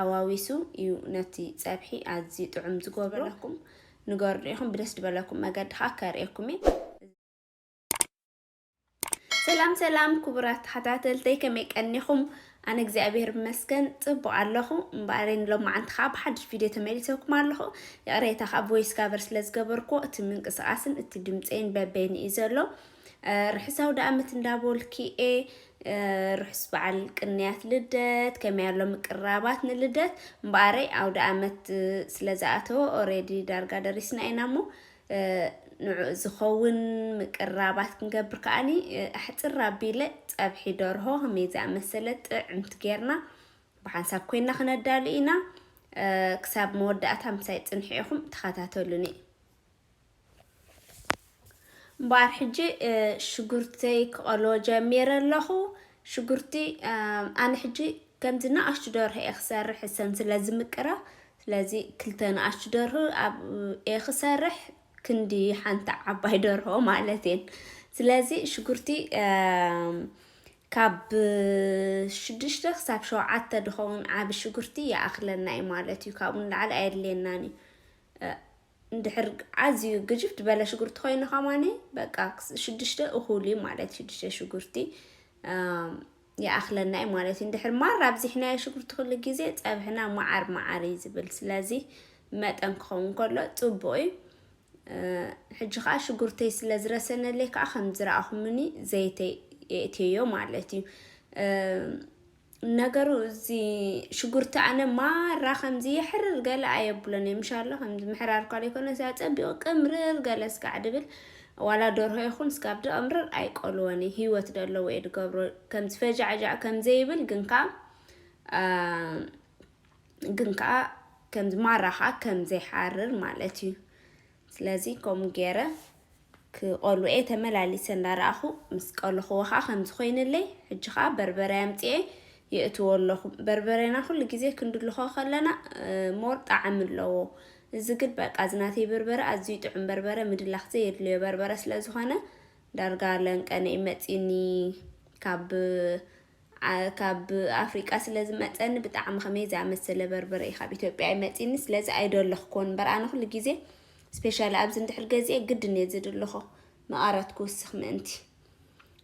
ኣዋዊሱ እዩ ነቲ ጸብሒ ኣዝዩ ጥዑም ዝገብሮ። ዝበለኩም ንገሩኒ ኢኹም፣ ብደስ ዝበለኩም መገዲ ከዓ ከርእየኩም እየ። ሰላም ሰላም ክቡራት ተኸታተልተይ ከመይ ቀኒኹም? ኣነ እግዚኣብሔር ይመስገን ፅቡቅ ኣለኹ እምበኣር ሎማዓንቲ ከዓ ብሓድሽ ቪድዮ ተመሊሰኩም ኣለኹ ይቕሬታ ከዓ ቮይስ ጋቨር ስለዝገበርኩ እቲ ምንቅስቃስን እቲ ድምፀይን በበይኑ እዩ ዘሎ ርሑሳው ዳኣመት እንዳቦልኪ ኤ ርሑስ በዓል ቅንያት ልደት ከመይ ኣሎ ምቅራባት ንልደት እምበኣረይ ኣውደኣመት ስለ ዝኣተወ ኦሬዲ ዳርጋ ደሪስና ኢና እሞ ንዑ ዝኸውን ምቅራባት ክንገብር ከዓኒ ኣሕፅር ኣቢለ ፀብሒ ደርሆ ከመይ ዝኣመሰለ ጥዕምቲ ጌርና ብሓንሳብ ኮይና ክነዳሉ ኢና ክሳብ መወዳእታ ምሳይ ፅንሒ ኢኹም ተኸታተሉኒ እምበኣር ሕጂ ሽጉርተይ ክቐሎ ጀሚረ ኣለኹ። ሽጉርቲ ኣነ ሕጂ ከምዚ ንኣሽቱ ደርሆ እየ ክሰርሕ እሰን ስለ ዝምቅራ ስለዚ ክልተ ንኣሽቱ ደርሆ እየ ክሰርሕ ክንዲ ሓንቲ ዓባይ ደርሆ ማለት እየን ስለዚ ሽጉርቲ ካብ ሽዱሽተ ክሳብ ሸውዓተ ድኸውን ዓብ ሽጉርቲ ይኣኽለና እዩ ማለት እዩ ካብኡ ንላዕሊ ኣየድልየናን እዩ እንድሕር ኣዝዩ ግጅፍ ዝበለ ሽጉርቲ ኮይኑ ከማኒ በቃ ሽዱሽተ እኹል እዩ ማለት እዩ ሽዱሽተ ሽጉርቲ ይኣኽለና እዩ ማለት እዩ እንድሕር ማር ኣብዚሕናዮ ሽጉርቲ ኩሉ ግዜ ፀብሕና መዓር መዓር እዩ ዝብል ስለዚ መጠን ክኸውን ከሎ ፅቡቅ እዩ ሕጂ ከዓ ሽጉርተይ ስለ ዝረሰነለይ ከዓ ከም ዝረኣኹምኒ ዘይተይ የእትዮ ማለት እዩ ነገሩ እዚ ሽጉርቲ ኣነ ማራ ከምዚ የሕርር ገለ ኣየብሎን እየ ምሻሎ ከምዚ ምሕራር ኳል ይኮነ ሳ ጸቢቑ ቅምርር ገለ ስጋዕ ድብል ዋላ ደርሆ ይኹን ስጋብ ድቕምርር ኣይቆልወን እዩ ህይወት ደለዎ እየ ድገብሮ ከምዚ ፈጃዕጃዕ ከምዘይብል ግን ከዓ ግን ከዓ ከምዚ ማራ ከዓ ከምዘይሓርር ማለት እዩ ስለዚ ከምኡ ገይረ ክቆልው'የ ተመላሊሰ እንዳረኣኹ ምስ ቀለኹዎ ከኣ ከምዚ ኮይንለይ ሕጂ ከኣ በርበረ ኣምጺኤ የእትዎ ኣለኹ በርበሬና ኩሉ ግዜ ክንድልኾ ከለና ሞር ጣዕሚ ኣለዎ እዚ ግን በቃ እዚ ናተይ በርበረ ኣዝዩ ጥዑም በርበረ ምድላኽ ዘየድልዮ በርበረ ስለዝኾነ ዳርጋ ለንቀነ'ዩ መጺኒ ካብ ካብ ኣፍሪቃ ስለ ዝመጸኒ ብጣዕሚ ከመይ ዝኣመሰለ በርበረ እዩ ካብ ኢትዮጵያ እዩ መጺኒ ስለዚ ኣይደለኽኮን እምበር ኣነ ኩሉ ግዜ ስፔሻሊ ኣብዚ እንድሕር ገዚኤ ግድን እየ ዝድልኾ መቐረት ክውስኽ ምእንቲ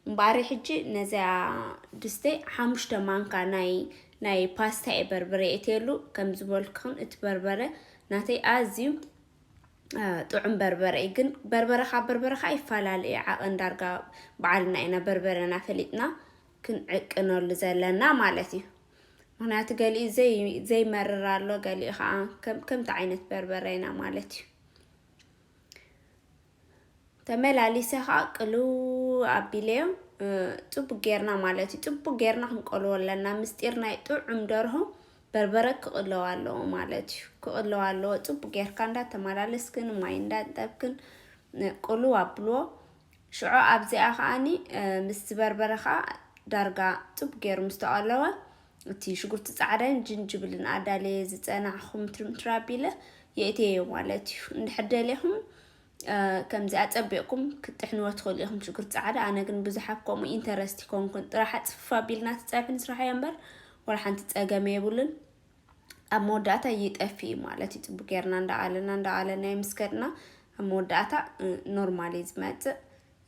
እምበኣሪ ሕጂ ነዚኣ ድስተይ ሓሙሽተ ማንካ ናይ ናይ ፓስታ እየ በርበረ የእትየሉ ከም ዝበልክኽን እቲ በርበረ ናተይ ኣዝዩ ጥዑም በርበረ እዩ ግን በርበረ ካብ በርበረ ከዓ ይፈላለ እዩ ዓቐን ዳርጋ በዓልና ኢና በርበረና ፈሊጥና ክንዕቅነሉ ዘለና ማለት እዩ ምክንያቱ ገሊኡ ዘይመርር ኣሎ ገሊኡ ከዓ ከምቲ ዓይነት በርበረ ኢና ማለት እዩ ተመላሊሰ ከዓ ቅልው ኣቢለዮ ፅቡቅ ጌርና ማለት እዩ ፅቡቅ ጌርና ክንቀልዎ ኣለና ምስጢር ናይ ጥዑም ደርሆ በርበረ ክቅለው ኣለዎ ማለት እዩ ክቅለው ኣለዎ ፅቡቅ ጌርካ እንዳተመላለስክን ማይ እንዳጠብክን ቅልው ኣብልዎ ሽዑ ኣብዚኣ ከዓኒ ምስ ዝበርበረ ከዓ ዳርጋ ፅቡቅ ጌሩ ምስ ተቀለወ እቲ ሽጉርቲ ጻዕዳን ጅንጅብልን ኣዳለየ ዝጸናዕኹም ትርምትር ኣቢለ የእትየዮ ማለት እዩ እንድሕር ደሊኹም ከምዚ ኣጸቢቕኩም ክትጥሕንዎ ትኽእሉ ኢኹም ሽጉርቲ ጻዕዳ ኣነ ግን ብዙሕ ኣብ ከምኡ ኢንተረስት ይኮንኩን ጥራሕ ኣጽፍፍ ኣቢልና ትጸብሒ ንስራሕዮ እምበር ወላ ሓንቲ ጸገመ የብሉን ኣብ መወዳእታ ይጠፊ እዩ ማለት እዩ ጽቡቅ ጌርና እንዳኣለና እንዳኣለና የምስከድና ኣብ መወዳእታ ኖርማል እዩ ዝመጽእ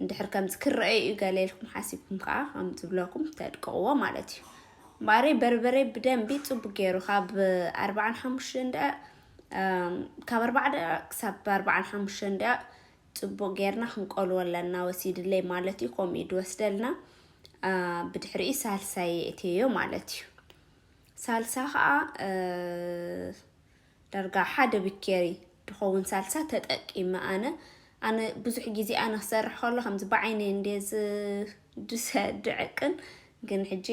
እንድሕር ከምዚ ክረኣዩ እዩ ገለ ኢልኩም ሓሲብኩም ከዓ ከም ዝብለኩም ተድቅቕዎ ማለት እዩ እምበኣረይ በርበረ ብደንቢ ፅቡቅ ገይሩ ካብ ኣርባዓን ሓሙሽተን ደቂቕ ካብ ኣርባዓ ደቂቕ ክሳብ ኣርባዓን ሓሙሽተን ደቂቕ ፅቡቅ ጌርና ክንቆልዎ ኣለና ወሲድለይ ማለት እዩ ከምኡ እዩ ድወስደልና ብድሕሪ ሳልሳ የእትዮ ማለት እዩ ሳልሳ ከዓ ዳርጋ ሓደ ብኬሪ ድከውን ሳልሳ ተጠቂመ ኣነ ኣነ ብዙሕ ግዜ ኣነ ክሰርሕ ከሎ ከምዚ ብዓይነይ እንድየ ዝድሰ ድዕቅን ግን ሕጂ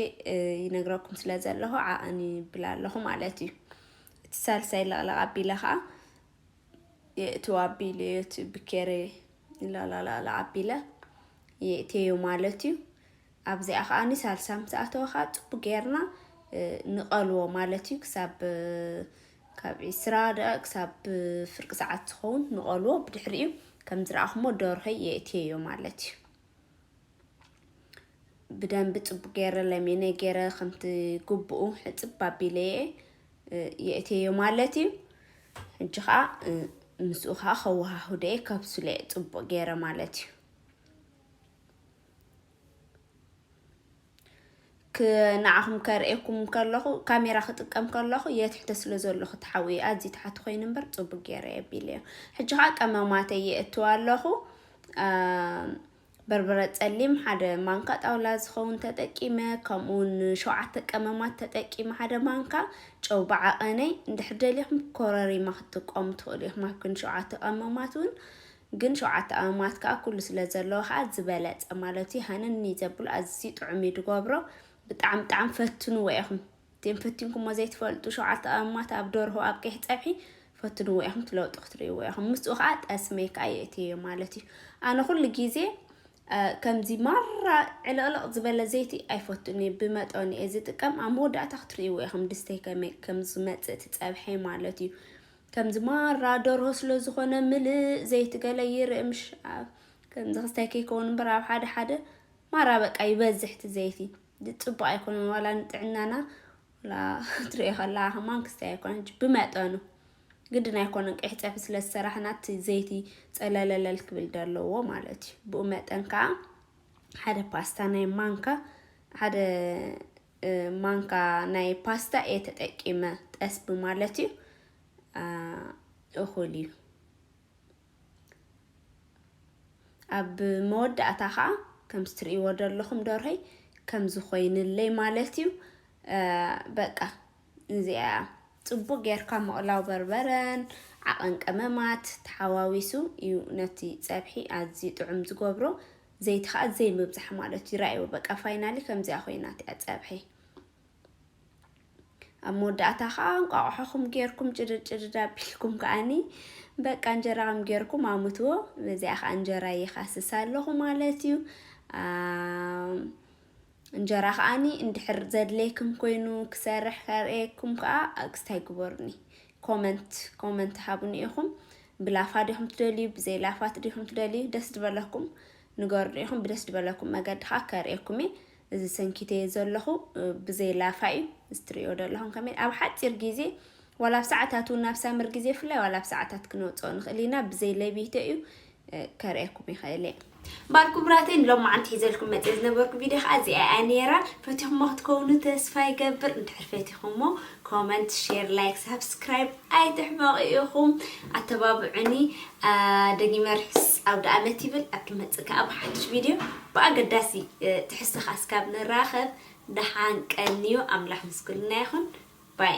ይነግረኩም ስለ ዘለኹ ዓቕን ይብል ኣለኹ ማለት እዩ እቲ ሳልሳይ ለቕለቕ ኣቢለ ከዓ የእትው ኣቢለ እዩ እቲ ብኬሪ ለቕለቕለቕለቕ ኣቢለ የእትየዮ ማለት እዩ ኣብዚኣ ከኣ ሳልሳ ምስ ኣተወ ከኣ ጽቡቅ ጌርና ንቀልዎ ማለት እዩ ክሳብ ካብ ዕስራ ደቂቅ ክሳብ ፍርቂ ሰዓት ዝኸውን ንቀልዎ ብድሕሪኡ ከም ዝረኣኹሞ ደርሆይ የእትየዮ ማለት እዩ ብደንቢ ጽቡቅ ገይረ ለሚነ ገይረ ከምቲ ግቡኡ ሕጽብ ኣቢለ የእትየዮ ማለት እዩ ሕጂ ከዓ ምስኡ ከዓ ከወሃሁደ ከብስለ ጽቡቅ ገይረ ማለት እዩ ንዓኹም ከርእየኩም ከለኹ ካሜራ ክጥቀም ከለኹ የትሕተ ስለ ዘለኹ ተሓውየ ኣዝዩ ተሓቲ ኮይኑ እምበር ፅቡቅ ገይረ የቢለ እዮ ሕጂ ከዓ ቀመማተ የእትው ኣለኹ በርበረ ፀሊም ሓደ ማንካ ጣውላ ዝኸውን ተጠቂመ ከምኡውን ሸውዓተ ቀመማት ተጠቂመ ሓደ ማንካ ጨው ብዓቐነይ እንድሕር ደሊኹም ኮረሪማ ክትጥቀሙ ትኽእሉ ኢኹም ኣብ ግን ሸውዓተ ቀመማት እውን ግን ሸውዓተ ኣእማት ከኣ ኩሉ ስለ ዘለዎ ከኣ ዝበለጸ ማለት እዩ ሃነኒ ዘብሎ ኣዝዩ ጥዑም እዩ ድገብሮ ብጣዕሚ ብጣዕሚ ፈትንዎ ኢኹም እቲም ፈቲንኩሞ ዘይትፈልጡ ሸውዓተ ኣእማት ኣብ ደርሆ ኣብ ቀይሕ ጸብሒ ፈትንዎ ኢኹም ትለውጡ ክትርእይዎ ኢኹም ምስኡ ከኣ ጠስመይ ከኣ የእትየዮ ማለት እዩ ኣነ ኩሉ ግዜ ከምዚ ማራ ዕልቕልቕ ዝበለ ዘይቲ ኣይፈቱን እየ ብመጠኑ እየ ዝጥቀም ኣብ መወዳእታ ክትርእይዎ ኢኹም ድስተይ ከመይ ከም ዝመጽእ እቲ ጸብሐይ ማለት እዩ ከምዚ ማራ ደርሆ ስለ ዝኾነ ምልእ ዘይቲ ገለ ይርእ ምሽ ከምዚ ክስታይ ከይከውን እምበር ኣብ ሓደ ሓደ ማራ በቃ ይበዝሕ እቲ ዘይቲ ጽቡቅ ኣይኮነን ዋላ ንጥዕናና ዋላ ትሪኦ ከላ ከማን ክስታይ ኣይኮነን ብመጠኑ ግድን ኣይኮነን ቀይሕ ፀብሒ ስለ ዝሰራሕና እቲ ዘይቲ ፀለለለል ክብል ዘለዎ ማለት እዩ ብኡ መጠን ከዓ ሓደ ፓስታ ናይ ማንካ ሓደ ማንካ ናይ ፓስታ እየ ተጠቂመ ጠስቢ ማለት እዩ እኹል እዩ ኣብ መወዳእታ ከዓ ከምዚ ትርእይዎ ዘለኹም ደርሆይ ከምዚ ኮይንለይ ማለት እዩ በቃ እዚኣ ጽቡቅ ጌርካ ምቕላው በርበረን ዓቐን ቀመማት ተሓዋዊሱ እዩ ነቲ ጸብሒ ኣዝዩ ጥዑም ዝገብሮ ዘይቲ ከኣ ዘይ ምብዛሕ ማለት እዩ ራኣይዎ በቃ ፋይናሊ ከምዚኣ ኮይናት እያ ጸብሒ ኣብ መወዳእታ ከኣ እንቋቑሖኹም ጌርኩም ጭድድ ጭድድ ኣቢልኩም ከኣኒ በቃ እንጀራኹም ጌርኩም ኣሙትዎ በዚኣ ከኣ እንጀራ ይኻስስ ኣለኹ ማለት እዩ እንጀራ ከኣኒ እንድሕር ዘድሌክም ኮይኑ ክሰርሕ ከርእየኩም ከኣ ኣግስታይ ግበሩኒ ኮመንት ኮመንት ሃቡኒ ኢኩም ብላፋ ዲኩም ትደልዩ ብዘይ ላፋት ዲኩም ትደልዩ ደስ ድበለኩም ንገሩኒ ኢኩም ብደስ ድበለኩም መገዲ ከኣ ከርእየኩም እየ እዚ ሰንኪተዮ ዘለኹ ብዘይ ላፋ እዩ እዚ ትርእዮ ዘለኹም ከመይ ኣብ ሓጺር ግዜ ዋላ ኣብ ሰዓታት እውን ናብ ሳምር ግዜ ፍላይ ዋላ ኣብ ሰዓታት ክንወጽኦ ንኽእል ኢና ብዘይ ለቢቶ እዩ ከርእየኩም ይኽእል እየ እምበኣር ክቡራተይ ንሎም መዓንቲ ሒዘልኩም መፅእ ዝነበርኩ ቪድዮ ከዓ እዚኣ እያ ነይራ ፈቲኹሞ ክትከውኑ ተስፋ ይገብር እንድሕር ፈቲኹሞ ኮመንት ሼር ላይክ ሳብስክራይብ ኣይትሕመቑ ኢኹም ኣተባብዑኒ ደጊመ ርሑስ ኣውደ ኣመት ይብል ኣብ ድመፅእ ከዓ ብሓድሽ ቪድዮ ብኣገዳሲ ትሕዝቶ ከዓ እስካብ ንራኸብ ደሓን ቀንዩ ኣምላኽ ምስ ኩልና ይኹን ባይ